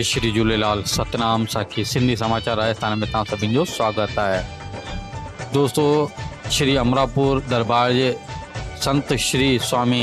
شري جهوليلال ستنام ساکي سنڌي سماچار راجستان ۾ توهان سڀني جو سواگت آهي دوستو شري امراپور دربار جي سنت شري سوامي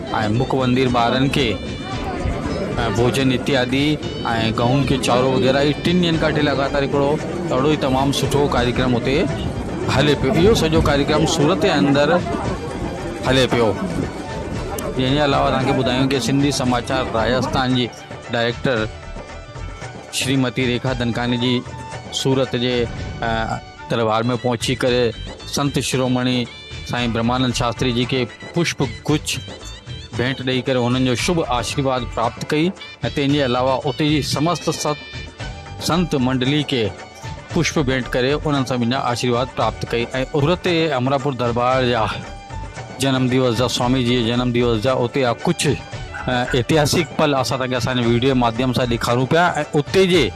۽ مک وندير ٻارن کي ۽ ڀوجن اتيادي ۽ گهون کي چارو وغيره هي ٽن ڏينهن کان وٺي لڳاتار هڪڙو اهڙو ئي تمام سٺو ڪاريڪرم اتي هلي پيو اهو سڄو ڪاريڪرم سورت جي اندر هلي پيو ان جي علاوه اسان کي ٻڌايون ڪي سنڌي سماچار راجستان جي ڊائريڪٽر شريمتي ريکا دنڪاني جي سورت جي دربار ۾ پهچي ڪري سنت شرومڻي سائين برهمانند شاستري جي کي پشپ گچ ڀيٽ ڏئي ڪري هنن جو شڀ آشيرواد پراپت ڪئي ۽ تنهن جي علاوه اتي جي سمست ست سنت منڊلي کي پشپ ڀيٽ ڪري انهن سڀني جا آشيرواد پراپت ڪئي ۽ اتي جي امراپور دربار جا جنم ديوس جا سوامي جي جي جنم ديوس جا اتي جا ڪجهه اتهاسڪ پل اسان تنهن کي اسان جي ويڊيو جي ماڌيم سان ڏيکارون پيا ۽ اتي جي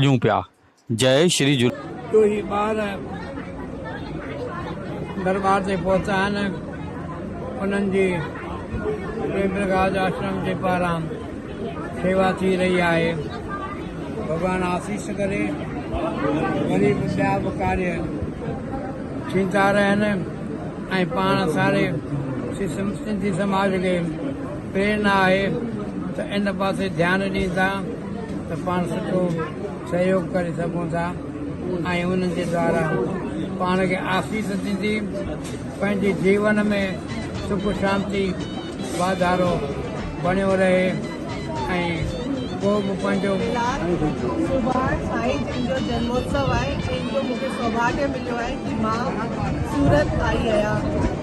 ڏيون پيا جئي شري جھو. ڏوهي ٻار درٻار تي پهتا آهن انهن جي پريمپرڪاش آشرم جي پاران شيوا ٿي رهي آهي ڀڳوان آسيس ڪري وري به ٻيا به ڪاري ٿيندا رهن ۽ پاڻ ساري سنڌي سماج کي پير نه آهي ته ان پاسي ڌيان ڏين ٿا ته پاڻ سٺو سهيوگ ڪري سگهون ٿا ۽ انهن جي دوارا پاڻ کي آسيس ٿيندي پنهنجي جيون ۾ سک شانتي واڌارو بڻيو رهي ۽ ڪو به پنهنجو سڀاڻ سائين جن جو جنموتسو آهي جن جو مونکي سوڀاڳيو مليو آهي ڪي مان سورت آئي آهيان.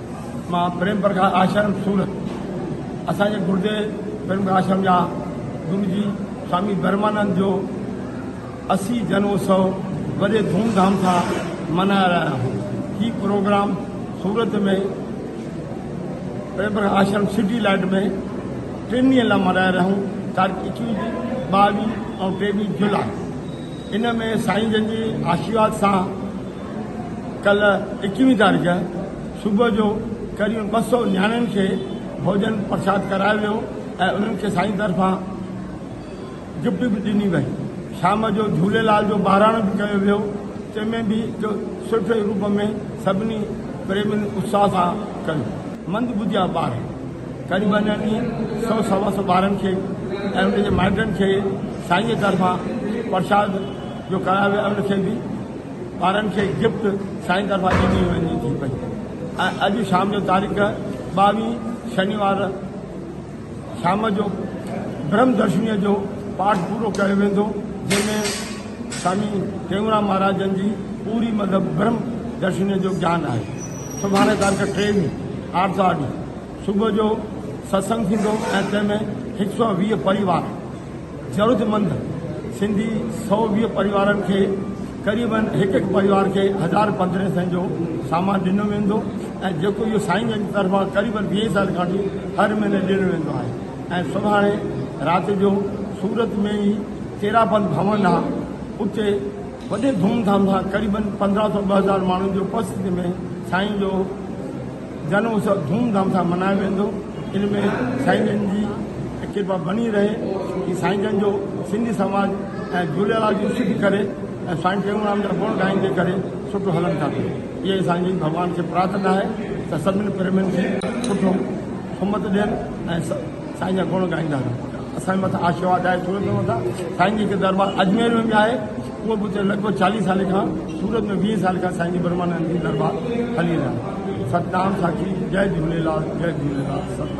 مان پريم پرڪاش آشرم سورت اسان جي گردي پريم پرڪاش آشرم جا گرو جي سوامي برمانند جو اسي جنوتسو وڏي ڌوم ڌام سان منايا رهيا آهن هي programme Surat ۾ Prem Prakash Ashram city light ۾ ٽن ڏينهن لاء منايا رهيون تاريخ اڪيس ٻاويهه ۽ ٽيويهه جولاء ان ۾ سائين جن جي آشيواد سان ڪلهه ايڪويهه تاريخ صبح جو قريب ٻه سؤ نياڻين کي ڀوڄن پرساد ڪرايو ويو ۽ انهن کي سائين طرفان گفٽ به ڏني وئي. شام جو جهوليلال جو ٻهراڻو به ڪيو ويو تنهن ۾ به جو سرخي روپ ۾ سڀني پريمين اتساهه سان ڪيو. مند ٻڌيا ٻار قريبن اهي سؤ سوا سؤ ٻارن کي ۽ انهن جي مائٽن کي سائينء طرفان پرساد جو ڪرايو ويو ۽ انهن کي به ٻارن کي گفٽ سائين طرفان ڏني وڃي ٿي پئي ۽ اڄ شام جو تاريخ ٻاوهين شنيوار شام جو برهم درشني جو پاٺ پورو ڪيو ويندو جنهن ۾ سامي ٽيونرام مهاراجن جي پوري مطلب برهم درشني جو جان آهي سڀاڻي تاريخ ٽيوي آرتوار ڏينهن صبح جو ستسنگ ٿيندو ۽ تنهن ۾ هڪ سؤ ويهه پريوار ضرورتمند سنڌي سؤ ويهه پريوارن کي قريبن هڪ هڪ پريوار کي هزار پنڌرهين سين جو سامان ڏنو ويندو ۽ جيڪو اهو سائين جن جي طرفان قريبن ويهين سال کان وٺي هر مهيني ڏنو ويندو آهي ۽ سڀاڻي رات جو سورت ۾ ئي تيرابند ڀون آهي اتي وڏي ڌوم ڌام سان قريبن پنڌرهن سؤ ٻه هزار ماڻهن جي اپستتي ۾ سائين جو جنم اتسو ڌوم ڌام سان منايو ويندو ان ۾ سائين جن جي ڪرپا بني رهي ڪي سائين جن جو سنڌي سماج ۽ جھوليالال جي سڌ ڪري ۽ سائين ٽيئونرام جا گڻ ڳائيندي ڪري سٺو هلن ٿا پيو اهي اسان جي ڀڳوان کي پرارٿنا آهي ته سڀني پريمين کي سٺو سمت ڏين ۽ سائين جا گڻ ڳائيندا رهن اسان مٿان آشيواد آهي ٿورو ٿورو ٿا سائين جي ڪي دربار اجمير ۾ به آهي اهو به اتي لڳ ڀڳ چاليهه سالن کان سورت ۾ ويهه سال کان سائين جي برهمانند جي درٻار هلي رهيا آهن ستنام ساکي جئ جهوليلال جئ جهوليلال ستنام.